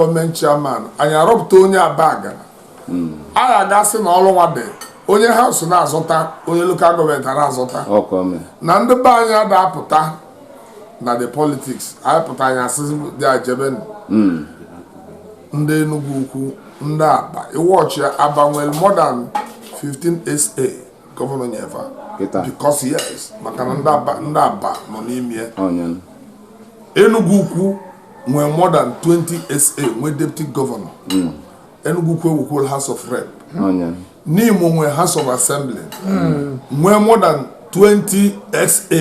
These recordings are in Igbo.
gọọmenti chairman anyị arọpụta onye abagana hmm. anyị agasị na ọrụ nwa dị onye house na-azọta onye local gọọmenti a na-azọta na ndị be anyị ada-apụta na the politics anyị pụta anyị asị dị ajebe hmm. ndị Enugu Ukwu ndị Aba iwu ọchị Aba nwere more than 15 SA gọvanọ nye fa because yes maka na ndị Aba nọ n'ime Enugu Ukwu nwee more than 20 sa nwee deputy governor hmm. Enugu Ukwu wekwolu house of rep Nimo nwee house of assembly hmm. nwee more than 20 sa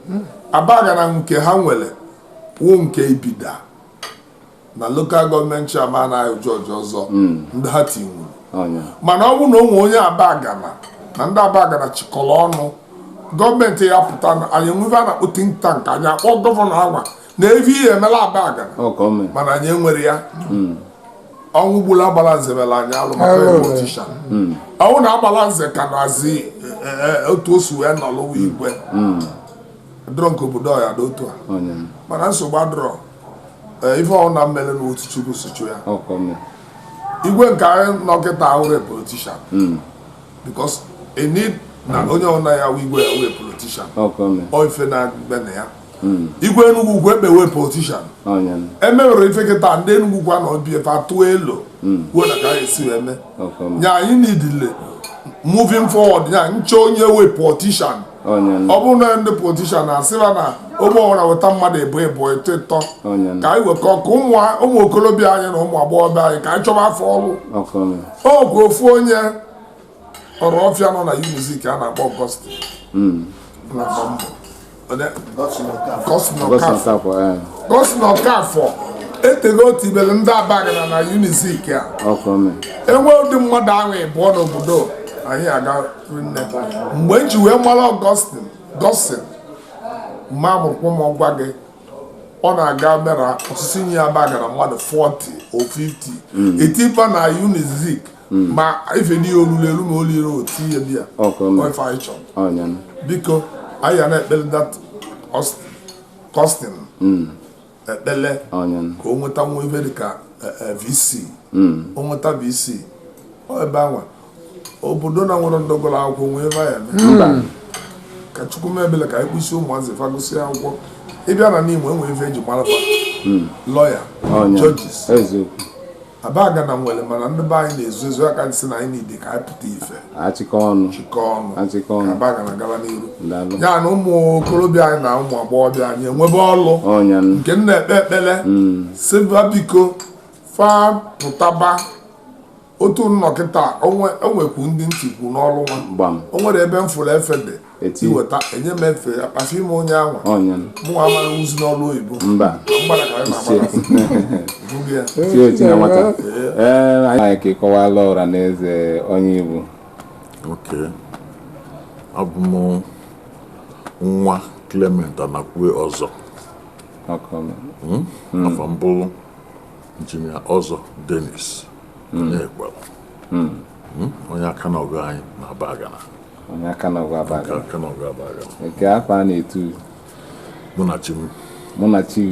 hmm. abagana nke ha nwere wụ nke Ibida na local gọọmenti chairman anyị George ọzọ ndị ha tinwuru mana ọ bụ na o nwe onye abagana na ndị abagana chịkọrọ ọnụ gọọmenti ya pụta anyị nwee ife a na-akpọ think tank anyị akpọ gọvanọ agwa na evi ihe emela abagana ọ ka ọ mee mana anyị enwere ya ọnwụ gburu agbala nze mere anyị alụ maka Alụ. ịbụ ọchịcha ọnwụ na agbala nze ka na-azị e, e, otu o si wee nọlụ wee igwe dọrọ nke obodo ọ ya dị otu a onye m, mana nsogbu adọrọ e, ife ọnwụ na mmele na otu chukwu si chụ ya ọ ka ọ mee igwe nke anyị nọ kịta ahụ wee politician because e need na onye ọnwụ na ya wee igwe ya wee politician ọ ka ọ mee ọ ife na-eme na ya hmm. igwe Enugu Ukwu ekpewe politician emewere ife kịta ndị Enugu Ukwu na ọbịa fa tụọ elo hmm. kwuo na ka anyị si eme nya anyị needili moving forward nya nche onye we politician ọ bụrụ na ndị politician na-asịba na ogbe ọbụla weta mmadụ ịbọ ịbọ ịtọ ịtọ ka anyị wekọ ka ụmụ okorobịa anyị na ụmụ agbọghọbịa anyị ka anyị chọba fa ọrụ okwu ofu onye Orofia nọ na Unizik a na-akpọ Ọgọstin hmm. na-agba mbọ Gọstin Ọkafọ etego o tibere ndị abagana na Unizik a enwe ụdị mmadụ ahụ ịbụọ n'obodo anyị aga nne mgbe m ji wee mara Ọgọstin Gọstin ma mụrụkwa m ọgwa gị ọ na-aga mera ọsịsọ nye abagana mmadụ 40 or 50 etiba na Unizik hmm. ma ife dị olulu elu ma olire otu ihe dị ya ife anyị chọrọ biko anyị ya na-ekpele that Gọstin hmm. ekpele ka o nweta nwa ife dịka e, e, vc hmm. o nweta vc ebe anwa obodo na nwere ndị gụrụ akwụkwọ nwee ebe ya eme ka chukwu mebele ka anyị kwụsị ụmụazị fa gụsịa akwụkwọ ị bịa na Nimo enwere ife e ji mara lawyer judges Abagana nwere mana ndị be anyị na-ezu ezu a ka m sị na anyị niile ka anyị pụta ife achịkọ ọnụ chịkọ ọnụ achịkọ ọnụ Abagana gaba n'iru Daalụ. ya na ụmụ okorobịa anyị na ụmụ agbọghọbịa anyị enwebe ọlụ ọnya nụ. nke m na-ekpe ekpele sịba biko fa pụtaba otu m nọ kịta o nwe- o nwekwu ndị m tikwu n'ọlụ nwa gbam o nwere ebe m fụrụ efe dị iweta enye m efe ya kpasị ime onye ahụ mụ amara wuzi n'ọrụ oyibo mba mgbada ka anyị na-agbada anyị ka ịkọwala ọra na eze onye ị bụ abụ m nwa Clement Anakwe ọzọ hmm? Hmm. afa m bụ injinia ọzọ Dennis hmm. Anakwe onye aka na ọgụ anyị n'Abagana onye aka na ọgụ Abagana aka na ọgụ Abagana nke afọ a na-etu mụ na chi m mụ na chi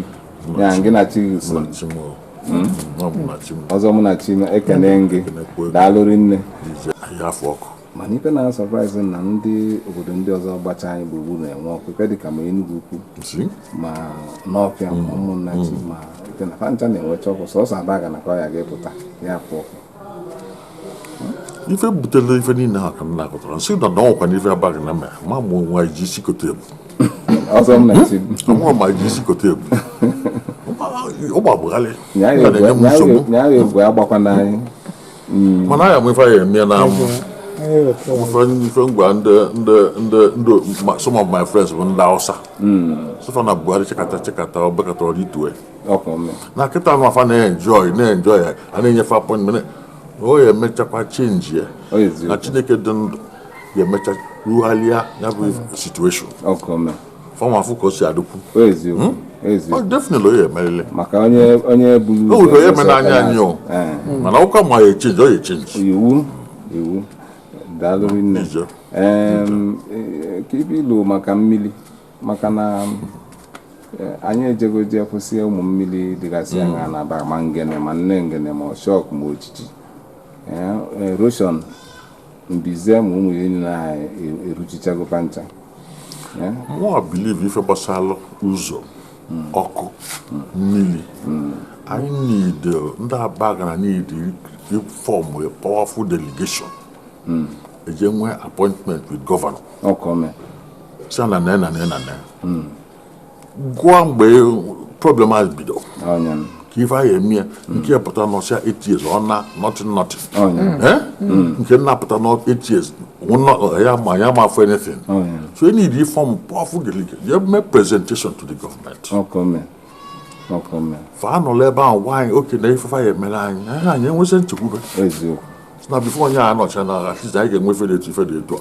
ya gị na chi gị so hmm? ọzọ mụ na chi m ekene gị daalụ rinne afụ ọkụ mana ife na-surprise na ndị obodo ndị ọzọ gbacha anyị gburugburu na-enwe ọkụ ife dịka ma Enugwu-Ukwu ma Nawfia hmm. Umunnachi hmm. ma ife na fa ncha na-enwecha ọkụ sọsọ Abagana ka ọ ya ga-apụta ya afụ ọkụ ife butere ife niile a ka m na-akọtara nsị na na ọkwa n'ife Abagana mere ma mụ nwa ji isi kote ebu nwa ma ji isi kote ebu ọ gbagbugharị na-enye m nsogbu mm. mana aya m ife ya eme na amụ ife ngwa ndị some of my friends bụ ndị Hausa mm. sị fa na Buhari chịkata chịkata ọ bekatara ọrụ itue na kịta nwa a fa na-enjoy na-enjoy ya a na-enye fa appointment o ya emechakwa change ya na chineke dị ndụ ya emecha rugharịa ya bụ situation fa ama afụ ka o si adịkwu ọ definitely onye emerele maka onye onye buru o nwere onye mere anya anyị o mana ụka ma ya echenji ọ ya echenji iwu iwu daalụ rinne ka ibe ilu maka mmiri maka na eh, anyị ejego jekwusi ụmụ mmiri dịgasị mm. anya na ba ma ngene ma nne ngene ma shọk ma ojiji eh, eh, erosion mbize ma ụmụ ya niile anyị e, eruchichago fa ncha mụ believe ife gbasara ụzọ mm. ọkụ mm. mmiri anyị niile ndị Abagana niile form a powerful delegation eje nwee appointment with governor gụọ mgbe problem a bido ka ife anyị eme ya nke ya pụta n'ọsịa etiez ọ na nothing nothing nke na-apụta n'etiez ya ma ya ma afọ anything so anyị dị form powerful delegation mee presentation to the government fa anọla ebe ahụ gwa anyị okay na ifefe anyị emere anyị anyị anyị enwezi nchekwube na before onye a nọcha na at least anyị ga-enwe ife dị etu ife dị etu a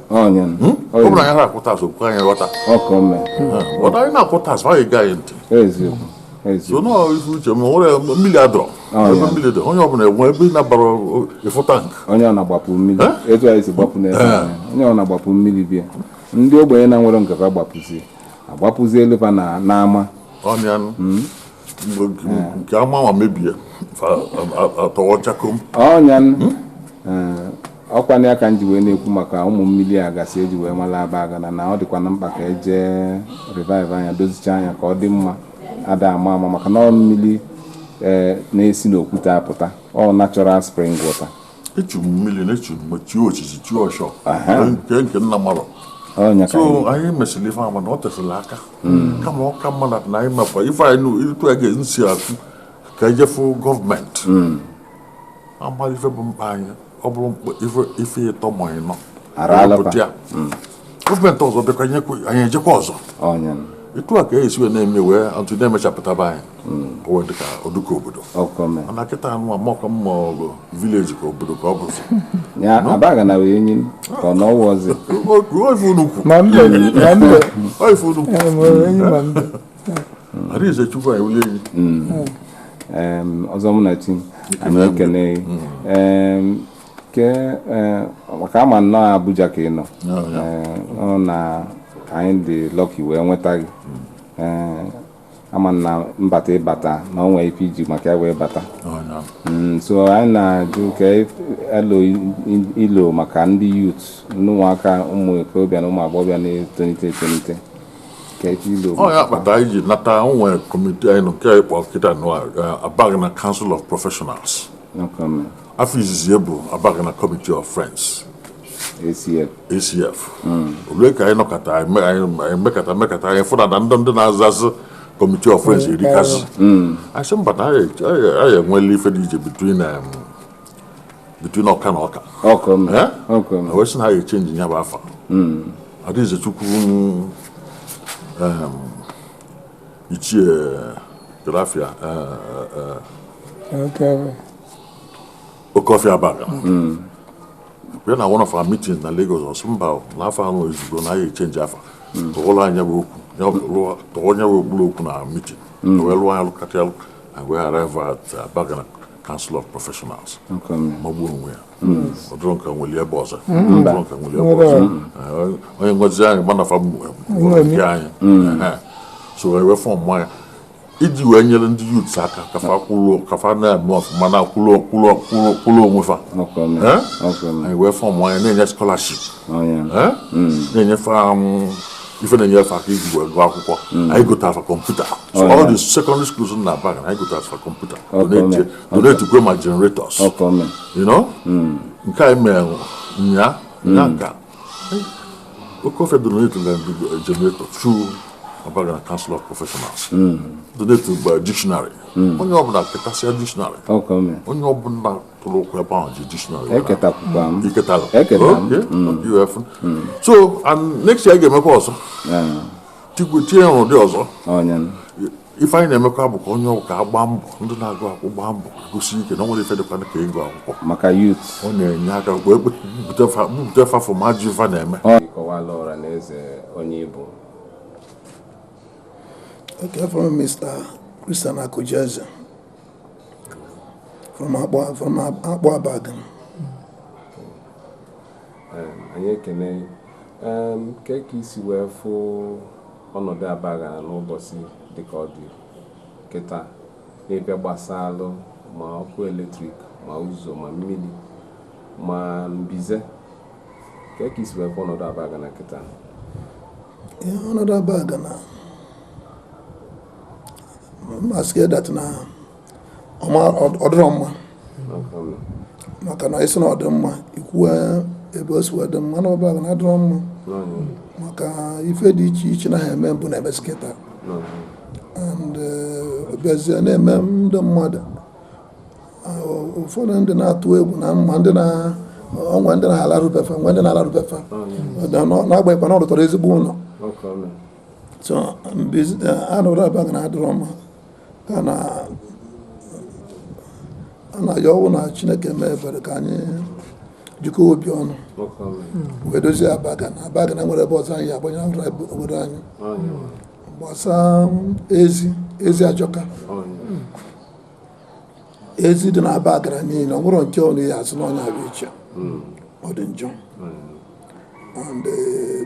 ọ nya hmm? ọ bụrụ anyị na-akwụ tax okwu anyị ghọta ọkọ mme ghọta anyị na-akwụ tax ma anyị gaa anyị ntị eziokwu so nọọ ife uche ma nwere mmiri adịrọ ebe mmiri dị onye ọbụla enwe ebe ị nabara ịfụ tank onye ọ na-agbapụ mmiri etu anyị si gbapụ n'ebe onye ọ na-agbapụ mmiri bịa ndị ogbenye na-enwerọ nke fa agbapụzi agbapụzi eleba n'ama ọ nya nụ hmm? nke ama nwa mebie atọwa chakom ọ nya ọ kwanụ ya ka m ji wee na-ekwu maka ụmụ mmiri a gasị eji wee mara Abagana na ọ dịkwanụ mkpa ka eje revive nya dozicha nya ka ọ dị mma ada ama ama maka na ọ mmiri ee na-esi n'okwute apụta ọ natural spring water echu m mmiri na echu m chi ochichi chi ọshọ nke nke nna mmadụ so anyị mesịrị ife mana ọ tesịrị aka hmm. kama ọ ka mma na anyị mekwa ife anyị ịtụ ya ga-esi atụ ka ejefu gọọmenti hmm. amara ife bụ mkpa anyị ọ bụrụ ife ịtọ ma ịnọ pụta ya hmm. gọọmenti ọzọ bịakwa nyekwa anyị ejekwa ọzọ ọ nya m etu a ka e esi wee na-eme wee atụ na-emechapụtaba anyị ka o wee dị ka ọ dị ka obodo ọzọ mee mana kịta anyị amakwa ma ọ bụ village ka obodo ka ọ bụ ya Abagana wee enyi m ka ọ na ọwa ọzọ ọ ife unu kwu ma mbe ma mbe ọ ife unu kwu ee, ma enyi ma mbe Arinzechukwu anyị wuli enyi Em, Ọzọ Munachi a na-ekele gị. Em, Eh, maka a ma na ọ Abuja ka ị nọ eh, na ka anyị dị lucky wee nweta gị eh, a ma na mbata ị bata na o nwe ife i ji maka ya wee bata mm, so anyị na-achọ ka e loo ilo maka ndị youth ụmụaka ụmụ okorobịa na ụmụ agbọghọbịa na-etolite etolite ọ ya kpata anyị ji nata nwere committee anyị nke anyị kpọrọ kịta Abagana Council of Professionals afa izizi ya bụ Abagana Committee of Friends ACF ACF o lue ka anyị nọkọta anyị me- anyị anyị mekọta mekọta anyị fụ na na ndị ndị na-aza aza Committee of Friends erikazị anyị sị mba na anyị anyị- anyị enweela ife dị iche between um, between ọka na ọka ọkụ m Eh? ọkụ m na wee sị na ha ga-echenji ya bụ afa Arinzechukwu um, ichie grafia eh, eh, eh, Okay. Okofi Abagana hmm. bịa na one of our meetings na Lagos ọ sị mba na afa anụ ezugo na anyị echenji afa tụọla hmm. nya bụ okwu tụọ onye bụ okpuru okwu na meeting hmm. wee lụọ nya lụkata ya lụka na wee arrive at Abagana Council of Professionals magbuo onwe ya ọ dụrụ nka nwere ebe ọzọ dụrụ nka nwere ebe ọzọ onye ngozi anyị mana afa nke anyị so wee fọm nya iji wee nyere ndị yuts aka ka fa kwụrụ ka fa na-eme ọfụma na kwụrụ kwụrụ kwụrụ kwụrụ onwe fa anyị wee fọm nya na-enye skọlaship na-enye fa ife na-enye fa aka iji wee gụọ akwụkwọ anyị gotaa fa kọmputa all the sekọndịrị skuls na Abagana anyị gotaa fa kọmputa donetikwe ma generators nke anyị mere nya nka oke ofe donetu generator through Abagana council of professionals donetugba dictionary onye ọbụla ketasịa dictionary ọkọ m onye ọbụla tụrụ ụkwụ ebe ahụ ji dictionary wee na- eketakwukwa m i ketara Eketara m. Okay, UF. so and next year a ga-emekwa ọzọ Ee, tikwe tinye ya n'ụdị ọzọ onye m ife anyị na-emekwa bụ ka onye ọbụna gbaa mbọ ndị na-agụ akwụkwọ gbaa mbọ gụsie ike na o nwerọ ife dịkwa ka ịgụ akwụkwọ maka yut ọ na-enye aka wee bute fa fụ ma ajọ ife na-eme ị kọwaala ọra na eze onye ị bụ Okay, from Mr. Christian Akujeze from Akpu Abagana. Anyị ekene gị. Kee ka i si wee fụ ọnọdụ Abagana n'ụbọsị dịka ọ dị kịta n'ebe gbasalụ ma ọkụ eletrik ma ụzọ ma mmili ma mbize kee ka i si wee fụ ọnọdụ Abagana kịta ọnọdụ Abagana m asịkwa that na ọ dịrọ mma maka na ị sị na ọ dị mma i kwuwe ebe o si wee dị mma na Abagana adịrọ mma maka ife dị iche iche na ha eme mbụ na-emezi kịta and eh, bịazie na-eme ndị mmadụ ah, ụfọdụ ndị na-atụ egwu na mma ndị na o nwe ndị na-alarụ be fa nwe ndị na-alarụ be fa na-agbanyeghịkwa na ọ rụtọrọ ezigbo ụnọ so eh, ọnọdụ Abagana adịrọ mma a na-ayọ bụ na Chineke mee ebere ka anyị jikọ obi ọnụ wee dozie Abagana Abagana enwerọ ebe ọzọ anyị agbanye ahụrụ obodo anyị gbasaa ezi ezi ajọka ezi dị na Abagana niile o nwerọ nke onye ya-asị na nya bụ iche ọ dị njọ and uh,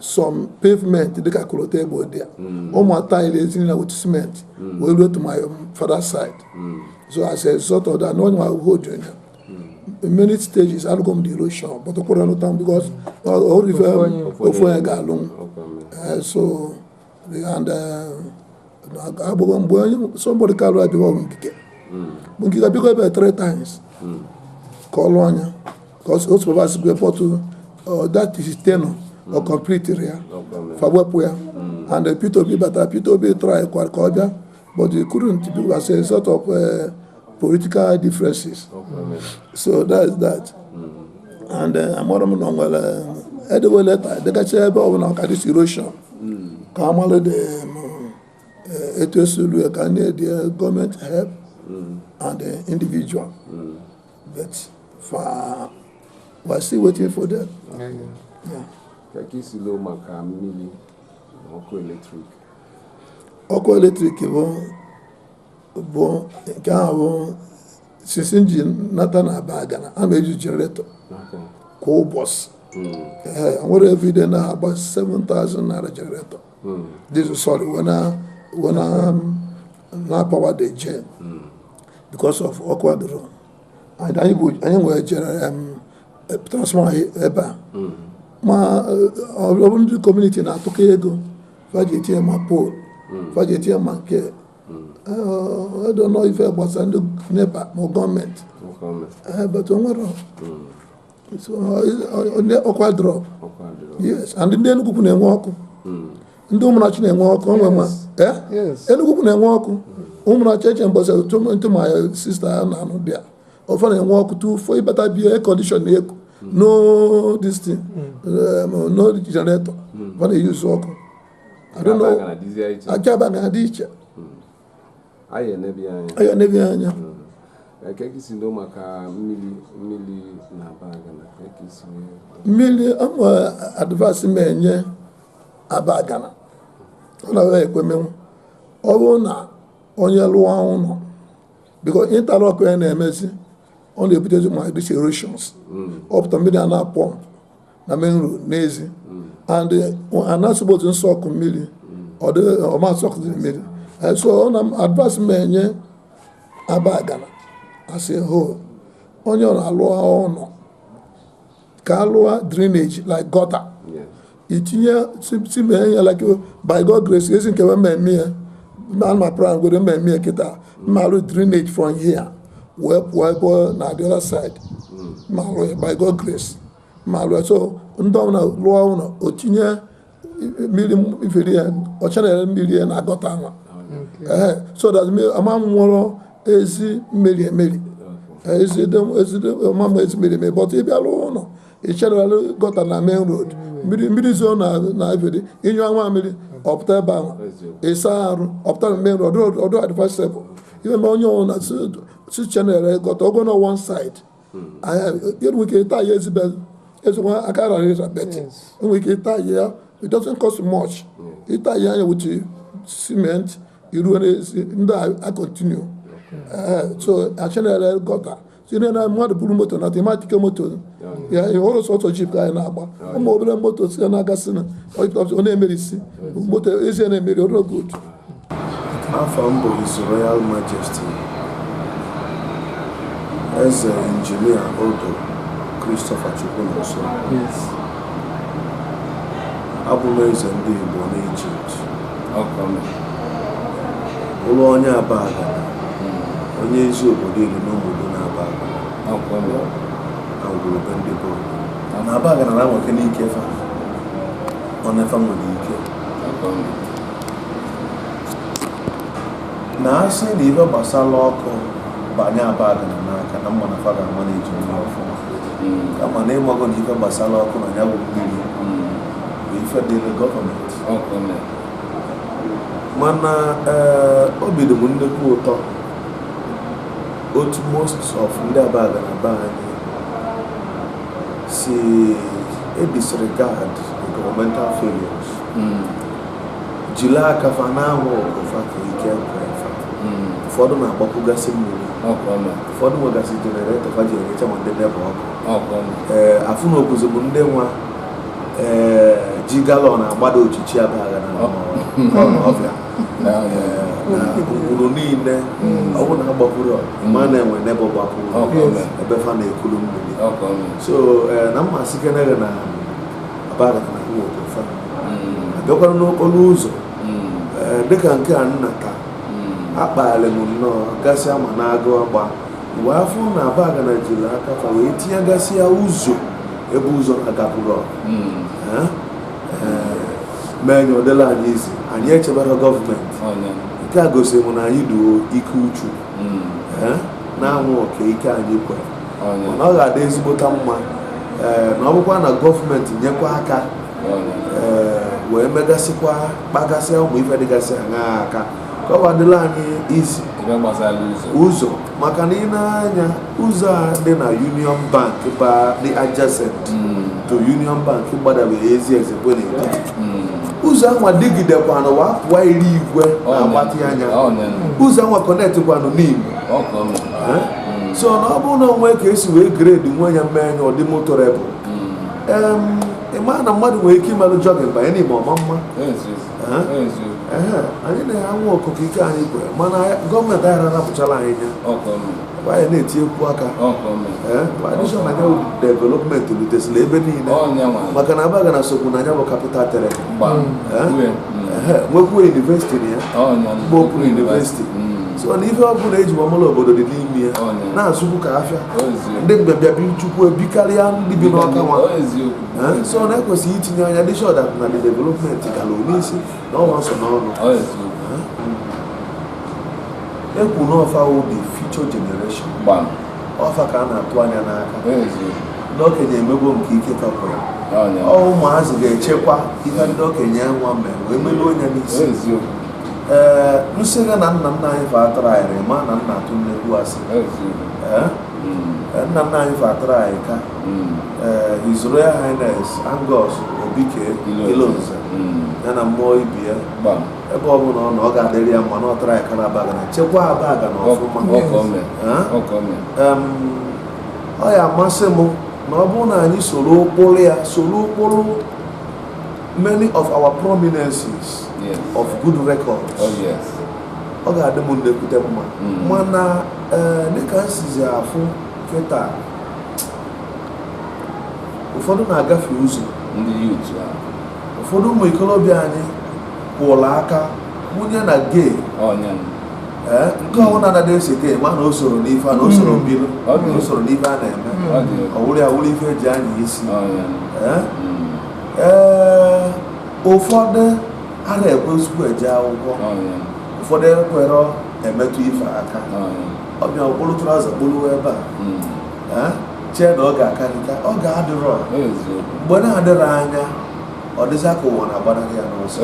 some pavement dịka kolota egbe dị ya hmm. ụmụ taịlị ezinye na with cement hmm. wee ruo to my father side hmm. so as a result of that n'onye ahụhụ onyonyo in many stages alụgo m the erosion but ọkwụrụ ọnụ tam because ofu onye ga-alụ m eh, so and uh, agbụgbọ mgbe onye somebody karụ abịa ọ bụ Ngige Ngige bịago ebe three times ka ọ lụọ anya ka o supervise kwa but uh, that his tenure ọ completerọ ya fa wepụ ya and Peter Obi batara Peter Obi try kwara ka ọ bịa but they couldn't do as a result of uh, political differences. So that is that. And uh, amara m na nwere edewe leta degacha ebe ọbụla ka this erosion ka amalụ dị uh, etu esi alụ ya ka need the government help and the individual. But we're still waiting for them. Yeah. Ka ka isi loo maka mmiri na ọkụ eletrik. ọkụ eletrik bụ bụ nke ahụ bụ since m ji nata na Abagana ana m eji jeneretọ kwa ụbọchị ee nwere every day na-agba 7000 naira jeneretọ diesel sorry wee na wee na na power the gen because of ọkụ adịrọ and anyị bụ anyị nwere jere em, eh, transformer ebe a ma eh, ọ bụrụ ndị community na-atụkọ ego fa ji etinye ma pole fa ji etinye ma nke ọ dịrọ ife gbasa ndị NEPA ma gọọmenti but o nwere ọkụ adịrọ yes and ndị Enugwu-Ukwu na-enwe ọkụ ndị Ụmụnnachi na-enwe ọkụ onwe ma Enugwu-Ukwu na-enwe ọkụ Ụmụnnachi eche mbọsị ntụmanya sista ya na anụ bịa ofe na-enwe ọkụ 24 ị bata be ya air condition na-eku no this thing no jenaretọ ọ na-eyuzu ọkụ aka Abagana dị iche anyị enebe anya mmiri ọmụ advice m enye Abagana ọ na-ekwemenwu ọ bụrụ na onye lụa ụnọ because interlock ya na-emezi ọ na-ebutezi ma this erosions ọ pụta mmiri a na-apọmp na main road n'ezi and ana suppose to soak mmiri ọ dịghị ọ ma asoakzi mmiri Eh, so ọ na advice m enye Abagana a sị ho onye ọ na-alụ ụnọ ka a lụọ drainage like gutter itinye si mee ya like by God grace ezi nke m ma-eme ya na ma plan godu m ma-eme ya kịta m ma-alụ drainage from here wee pụọ ebe na the other side m ma-alụ ya by God grace m ma-alụ ya so ndị ọbụla lụọ ụlọ o tinye mmiri iferi ya ọ channel mmiri ya na gutter anwa ee so that mmiri ama nwụrọ ezi mmiri emeri Eh, ezi ede- ezi ede- ọma ma ezi mmiri emeri but ị bịa rụ ụlọ ị channel gutter na main road mmiri mmiri zo na na iferi ị nyụa nwa mmiri ọ pụta ebe ahụ ị sa arụ ọ pụta na main road ọ dụrọ advisable ihe na onye ọbụna si channel gutter ogo na one side enwere ike ịta ya ezigbo ezigbo aka araghị ịza but enwere ike ịta ya it doesn't cost much ịta ya anya wuchi cement iruo n'ezi ndị a continue so a channel gutter tinye na mmadụ buru moto na tematike moto ya ọ bụrọ sọsọ jeep ka anyị na-agba ụmụ obere moto si na-agasị na ọ na-emerisi moto ezi a na-emeri ọrụ otu afa m bụ His Royal Majesty Eze Injinia Odo Christopher Chukwunonso abụ m eze ndị Igbo n'Ijipt bụlụ onye Abagana onye ezi obodo iri n'obodo na Abagana ngwurube ndị bi na Abagana na-anwa ike n'ike fa ọ na-efe nwere ike na a sị na ife gbasara ọkụ banye Abagana n'aka na m ma na fa ga-amanage ya ọfụma kama na ị mago na ife gbasara ọkụ na ya bụ mmiri bụ ife dịrị gọọmenti mana ee obi dị m nnukwu ụtọ otu most of ndị Abagana be anyị si edisregard nke governmental failures hmm. jiri aka fa na-anwa oke fa ka ike hmm. ụfọdụ na-agbapụgasị mmiri ụfọdụ nwegasị jeneretọ fa ji enyecha ma ndị neighbour ọkụ ee afụnukwuzi m ndị nwa ee eh, ji galọn agbada ochichi Abagana n'ọbịa ụkpụrụ niile ọ bụrụ na agbapụrụ ma na-enwe n'ebe gbapụrụ ebe fa na-ekulu mmiri so eh, na m ma-asị kenere na Abagana na-anwa oke fa abịakwara n'okporo ụzọ ee, dịka nke a nna ka a kpali m nnọọ gasịa ma na-agụ agba wee fụ na Abagana jiri aka fa wee tinye gasịa ụzọ ebe ụzọ agapụrụ mee nye ọdịla anyị izi anyị echebara gọọmenti nke a gosiri m na anyị dụ oke uchu ee, na-anwa oke ike anyị kwere mana ọ ga-adị ezigbota mma eh, na ọ bụkwa na gọọmenti nyekwa aka eh, wee megasịkwa kpagasịa ụmụ ife dịgasị aṅa aka ka ọ adịla anyị izi ụzọ maka na i nee anya ụzọ a dị na Union Bank ba dị adjacent hmm. to Union Bank gbadabere ezi eze bụ ụzọ anwa dịgidekwanụ wa pụọ iri igwe na-agbatị anya ụzọ anwa kọnetịkwanụ Nimo so na ọ bụrụ na o nwe ka e si wee grade nwe ya mee nya ọ dị motorable ị maa na mmadụ nwere ike ịmalụ jọgin banye n'ime ọma mma anyị na-anwa oko ka ike anyị kwe mana gọọmenti anyị arapụchala anyị nya anyị na-etinyekwu aka adishọn anya development rutesịla ebe niile maka na Abagana sokwu na nya bụ kapital territory nwekwuo yunivesiti na ya mgbe okpuru yunivesiti so na ife ọbụla e ji wee mala obodo dị n'ime ya na-azụkwu ka afịa ndị mbịabịa bichikwu ebe a karịa ndị bi n'Ọka nwa so na e kwesịrị itinye anya to ensure that na the development gara n'isi na ọnwa nso n'ọnụ ekwu na ọ fa wụ the future generation ọ fa ka a na-atụ anya maka ndị okenye emego nke ike tọpụrụ ọ ụmụazị ga-echekwa ihe ndị okenye nwa mere wee mebe onye n'isi ee m sị gị na nna nna anyị fa atrayịrọ ị ma na m na-atụ nnekwu asị Ee, ee, nna nna anyị fa atrayịka ee His Royal Highness Angus Obike Ilonze ya na mmụọ ibe ya ebe ọ bụla ọ nọ ọ ga-adịrị ya mma na ọ trayịka n'Abagana chekwa Abagana ọfụma Ee? Em, ọ ya-amasị m na ọ bụrụ na anyị soro ụkpụrụ ya soro ụkpụrụ many of our prominences yes. of good records oh, yes. ọ ga-adị m nnekwute mma mm. mana eh, dịka m sizi afụ kịta ụfọdụ na-agafie ụzọ ndị yut ụfọdụ ụmụ ikorobịa anyị kwụrụ aka wunye na gay eh, nke ọbụla na ese gay ma na o soro n'ife a na o soro mm. mbilu o soro n'ife a na-eme ọ wụrụ ya wụrụ ife e ji anya isi ee ụfọdụ anarọ ekwezikwu eje akwụkwọ ụfọdụ ekwerọ emetụ ife aka ọ bịa kpolu traụza kpoluwe ebe a hmm. chee na oge akarịka oge adịrọ mgbe na-adịrọ anya ọ dịzị ka ụwa na-agbanarị ya n'ọsọ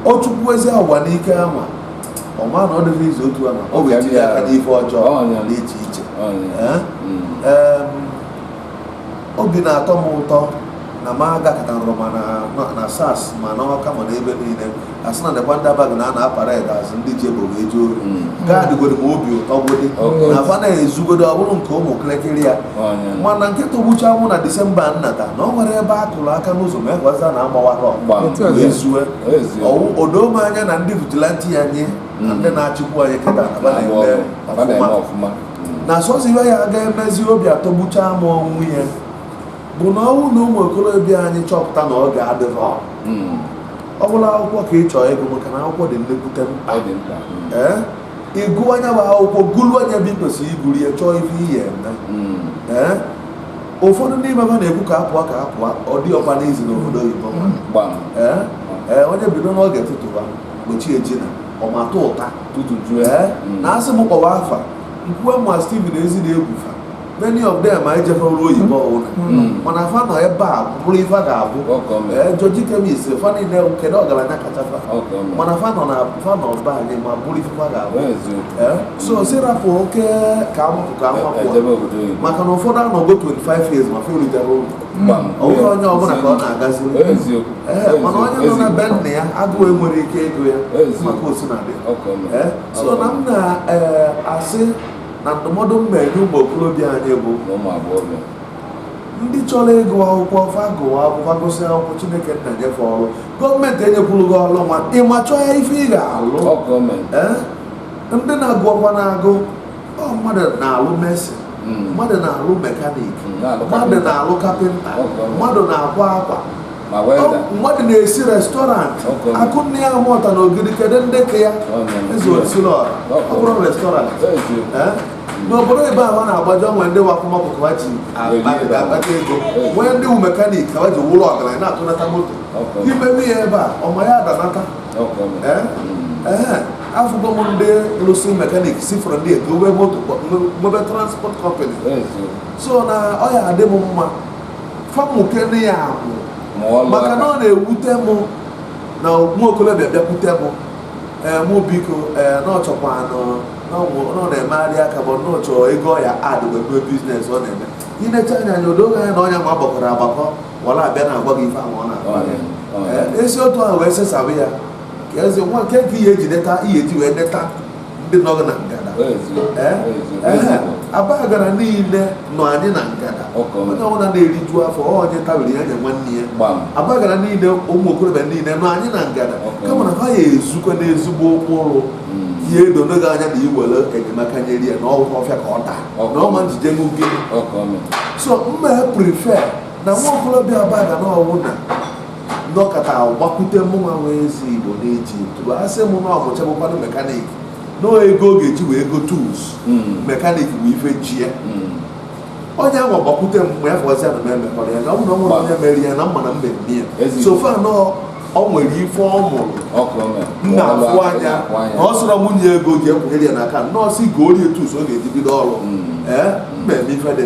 ọ chụkwuzia ụwa n'ike ama ọ ma na ọ dịghị izu otu ama ọ ga-etinye aka n'ife ọjọọ dị iche iche hmm. obi na-atọ m ụtọ na m agakọtarụrụ ma na SARS ma na ọka ma n'ebe niile asị na nekwa ndị Abagana a na-apara ede azụ ndị ji ebogo eji ori hmm. gaadịgoro m obi ụtọ gwụdị na afa na-ezugodo ọ bụrụ nke ụmụ kịrịkịrị ya mana nke tọgbucha mụ na disemba nnata na o nwerọ ebe a kụrụ aka n'ụzọ ma ekwaza na agbawara wee zue o doo m anya na ndị vigilante ya nye na ndị hmm. na-achịkwu anyị kịta na ọfụma na sọsọ ife ya ga-emezi obi atọgbucha m ọnwụ ya bụ na ọ wụ na ụmụ okorobịa anyị chọpụta na oge adịrọ hmm. ọ bụrụ akwụkwọ ka ị chọọ ịgụ maka na akwụkwọ dị nnekwute mkpa hmm. ee ị gụọ nya bụ akwụkwọ guruo nya ebe i kwesịrị iguru ya chọọ ife ị ya-eme hmm. ee ụfọdụ n'ime fa na-ekwu ka apụọ ka apụọ ọ dịrọkwa easy n'obodo oyibo ee onye bido n'oge tụtụba tupu chi ejie na ọmatụ ụta tutuju ee hmm. na asị m kpọwa afa nkwuwe ma Stephen ezi na-egwufa many of them anyị jefọrọ oyibo ọwụna hmm. hmm. mana fa nọ ebe a bụrụ ife fa ga-abụ ee George Chemist fa niile kedu ọgaranya kacha fa mana fa nọ na fa nọ be anyị ma bụrụ ife fa ga-abụ ee so sị rapụ oke ka mụ pụ ka mụ pụ maka na ụfọdụ anọgo 25 years ma fa eruterọ ụlọ ọ bụrọ onye ọbụla ka ọ na-agazi mana onye nọ na be nna ya agụụ enwerọ ike ịgụ ya maka osinadị so na m na-asị na ndụmọdụ m na-enye ụmụ okorobịa anyị bụ ndị chọrọ ịgụ akwụkwọ fa gụwa akwụkwọ fa gụsị akwụkwọ chineke nna nye fa ọrụ gọọmenti enyekwurọ gị ọrụ nwa ịma chọọ ya ife ị ga-alụ ndị na-agụ ọkwa na-agụ mmadụ na-alụ mesin hmm. mmadụ na-alụ mekanik hmm, mmadụ na-alụ kapịnta mmadụ na-akwa akwa mmadụ na-esi restọrantị akụnne ya mụta na ogiri kedu ndị ka ya eze osila ọ bụrụ restọrantị n'obodo oyibo ahụ na-agbaje o nwee ndị wakwụmọpụ ka ha ji akpata ego nwee ndị wu mekanik ka ha ji wụlụ ọgaranya na-atụnata moto ime nya ebe a ọma ya adanata afụgo m ndị lụsị mekanik si fọrọ ndị ego wee moto nwebe transport company so na ọ ya adị m mma fa mukene anya akwụ maka na ọ na-ewute m na nwa okolobịa bịakwute m ee mụ biko ee na ọ chọkwanụ na ọ na-emegharị aka bụ na ọ chọ ego ya ad webe biznes ọ na-eme i necha nya anya o doo gị anya na ọnya ma gbakọrọ agbakọ wee na-abịa na-agwa gị ife ahụ ọ na-agwa esi otu ahụ wee sesabụ ya ka eze nwa nke nke ihe eji neta ihe eji wee neta ndị nọ na ngada Abagana niile nọ anyị na ngada onye ọbụla na-eriju afọ onye tabiri ya nye nwanne ya Abagana niile ụmụ okorobịa niile nọ anyị na ngada kama na ha ya-ezukọ n'ezigbo ụkpụrụ ihe edo n'oge anya na iwere enyemaka nyere ya na ọgwụ ọfịa ka ọ taa na ọma njide n'oge so mma prefer na nwa okorobịa Abagana ọwụna nọkata gbakwute mụnwa nwe ezi igbo na-eji tụrụ asị m na ọ mụchabukwanụ mekanik na ego ọ ga-eji wee go tools hmm. mekanik bụ ife ji ya hmm. onye ahụ gbakwute m mgbe afọ ọzọ na m emekọrọ ya na ọ bụrụ na o nwere onye mere ya na mma na m mee ya so far na o nwere ife ọ mụrụ nna afụ anya na ọ sọrọ nwunye ego ji ekwunyere ya n'aka nọọsụ igorie tools ọ ga-eji bido ọrụ hmm. ee eh? m mee ife dị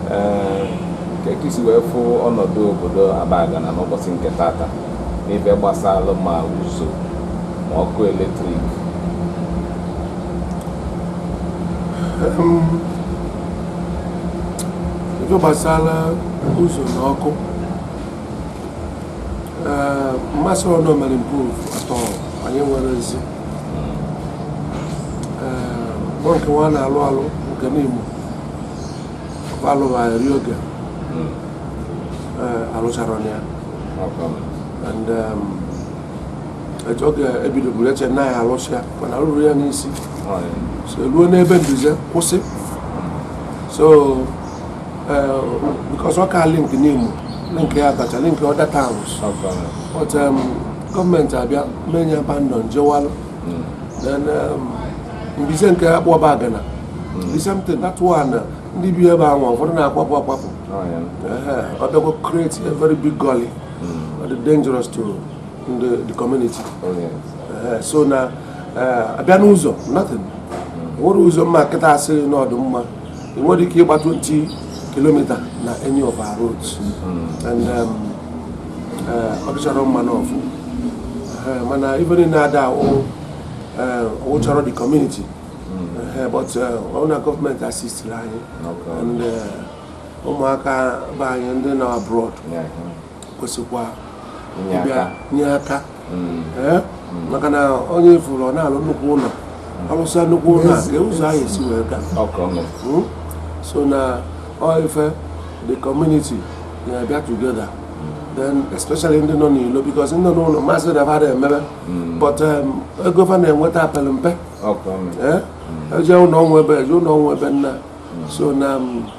ka ka i si wee fụ ọnọdụ obodo Abagana n'ụbọsị nke tata n'ife gbasara ma ụzọ ma ọkụ eletrik ife gbasara ụzọ na ọkụ mmasị ọnụ mere nke ofu atọ anyị nwere mbize nke nwa na-alụ alụ nke Nimo alụchara ya and um, etu oge e bidoburu e che na ya alụsị ya mana rụrụ ya n'isi oh, so ruo n'ebe ndị ọzọ kwụsị so eh, because ọ ka link Nimo link ya Abacha link other towns but um, gọọmenti abịa mee ya abandon jewalụ Mbize nke Akpụ Abagana is same thing that one ndị bi ebe ahụ ụfọdụ na-akwapụ akwapụ ọ bịakwa create a very big gully ọ dị dangerous to the community so na a bịa n'ụzọ nothing nwere ụzọ mma kịta asị na ọ dụ mma ị nwere ike ịgba 20 kilomita na any of our roads hmm. and um, uh, ọ dịchara mma nọọfụ uh, mana ife niile ada awụ uh, wụcharọ the community hmm. but ọ wụ na gọọmenti asistiri anyị and ụmụaka be anyị ndị nọ abroad kwesịkwa nye aka hmm. eh? hmm. maka na onye ị fụrụ ọ na-alụ nnukwu ụlọ hmm. ọ lụsịa nnukwu ụlọ a ka ụzọ ahụ e si wee gaa so na ife the community na-abịa together then especially ndị nọ n'ilo because ndị nọ n'ụlọ maazị na ha emebe but um, ego fa na-enweta pelụ mpe eje ụlọ ọnwa ebe eje ụlọ ọnwa ebe nna so na um,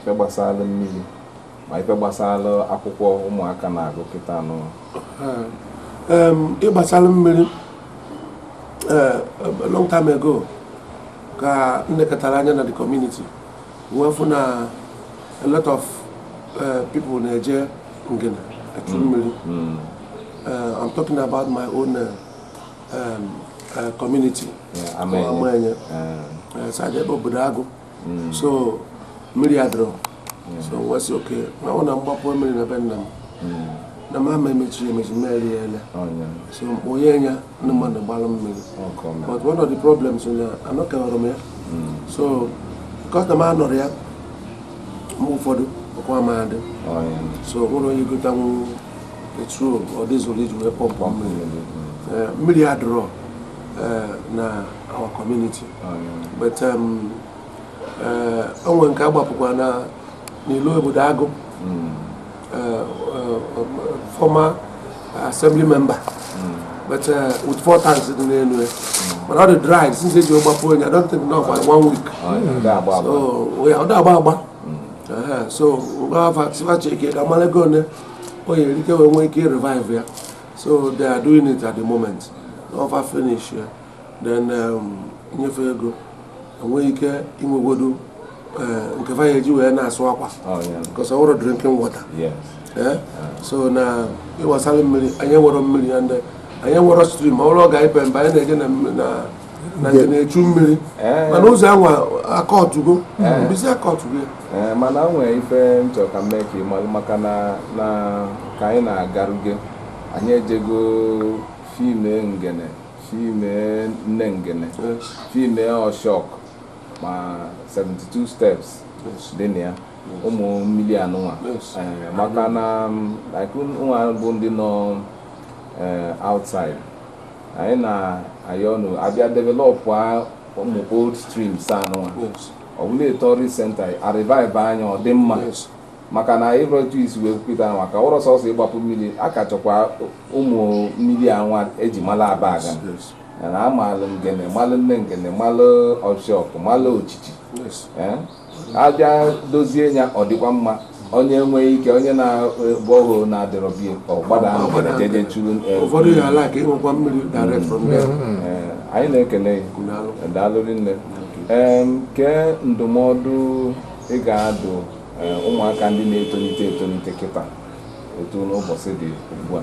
ife gbasara mmiri ma ife gbasara akwụkwọ ụmụaka na-agụ kịta anụ ịgbasara mmiri eh, long time ago ka m lekọtara anya na the community wee fụ na a lot of eh, people na-eje Ngene echu mm. mmiri mm. Eh, I'm talking about my own um, community Amaenye so adị ebe obodo agụ hmm. so mmiri adịrọ hmm. so wee sị okay ma ọ na m gbapụ mmiri na be nna m hmm. na m ama emechiri emechi mmeri ya ele oh, so onye nya ndị mmadụ gbalụ mmiri but one of the problems na anọkewara m ya so kọsta m anọrọ ya mgbe ụfọdụ ọkụ ama adị oh, so enwerọ onye gotanwu petrol or diesel iji wee pọmpụ mmiri eh, mmiri adịrọ eh, na our community oh, but um, eh, o nwere nke agbapụkwa na n'ilo obodo agụ hmm. eh, former assembly member hmm. but with four tanks dị n'elu ya hmm. mana ọ dị dry since eji gbapụ nya I don't think na ọ gba one week oh, so ọ dịrọ agba agba so m gwa fa sị fa checkie ka amalụ ego one ọ ya-eri ka e wee nwee ike revive ya so they are doing it at the moment n'ọ fa finish ya then um, nye fa ego e nwee ike inwegodu eh, nke fa ya-eji wee na-asụ akwa Oh, yeah. because ọ wụrọ drinking water Yes. Eh? so na ife gbasara mmiri anyị nwere mmiri ya ndị anyị nwere stream ọ bụrụ ọ ga-epe mba anyị na-eje na mmiri- na na Ngene echu mmiri eh. mana ụzọ anwa akọtụgo eh. mbize akọtụgo ya eh, mana o nwee ife m chọ ka m mee ka ị malụ maka na ka anyị na-agaruge anyị ejego film Ngene film Nne Ngene film Ọshọk ma 72 steps dị na ya ụmụ mmiri anụnwa maka na ụnụ nwa bụ ndị nọ outside anyị na-ayọ ụnụ abịa developụ ụmụ old streams anụwa ọ bụlụ a tourist centre a revive nya ọ dị mma maka na ịrọtu isi wee kwupụta anwa ka ọ wụrọ sọsọ ịgbapụ mmiri a ka chọkwa ụmụ mmiri anwa eji mala Abagana amalụ Ngene malụ Nne Ngene malụ Ọshọk malụ Ochichi abịa dozie ya ọ dịkwa mma onye nwee ike onye na borehole na-adịrọ be ya ọ gbada ahụ gwara jeje churu eh, ụfọdụ ya ala ka ịnwekwa mmiri direct from there eh, anyị na-ekene gị daalụ rinne Em, kee ndụmọdụ ị ga-adụ eh, ụmụaka ndị na-etonite etonite kịta etu ụbọsị dị ugbu a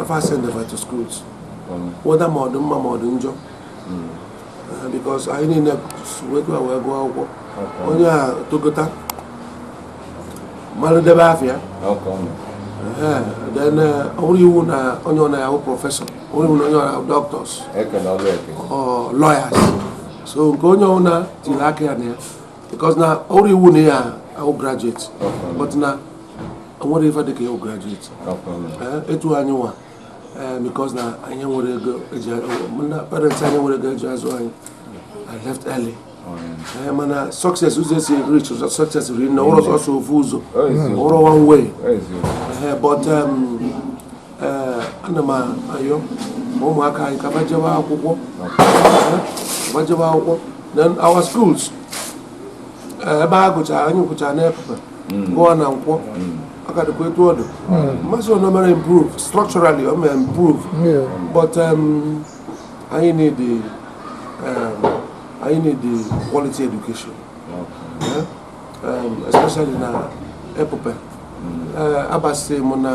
afa send them to schools whether ma ọ dị mma ma ọ dị njọ uh, because anyị niile wekwa wee gụọ akwụkwọ onye a tokota mmanụ debe afịa then ọ bụrọ iwu na onye ọwụna awụ professor ọ bụrọ iwu na onye ọwụna awụ doctors lawyers so nke onye ọwụna tiri aka ya na ya because na ọ bụrọ iwu na ya awụ graduate but na nwerọ ife dịka ịwụ graduate eh, etu anyị nwa eh, because na anyị nwerọ ego eji na parents anyị nwerọ ego eji azụ anyị I left early eh, mana success ụzọ esi reach ụzọ success ri na ọ wụrọ sọsọ ofu ụzọ ọ wụrọ one way but um, ana m ayọ ụmụaka anyị ka ba jebe akwụkwọ ba jebe akwụkwọ then our schools ebe a gụchara anyị gụchara n'Epupe gụọ na Nkwọ ọ ka dịkwa etu ọ dụ m asị na o mere improve structurally o mere improve but um, anyị need the um, anyị need the quality education Eh, um, especially na Epupe Eh, abasị m na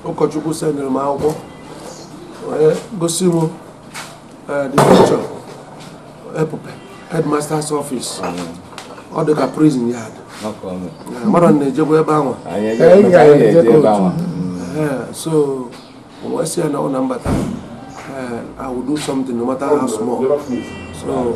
ụkọchukwu sendịrị m akwụkwọ wee gosi m Uh, the picture, Epupe, headmaster's office. Ọ dị ka prison yard. Mmadụ na-ejekwa ebe ahụ. So, wee sị ya na ọ na m bata, I will do something no matter how small. So,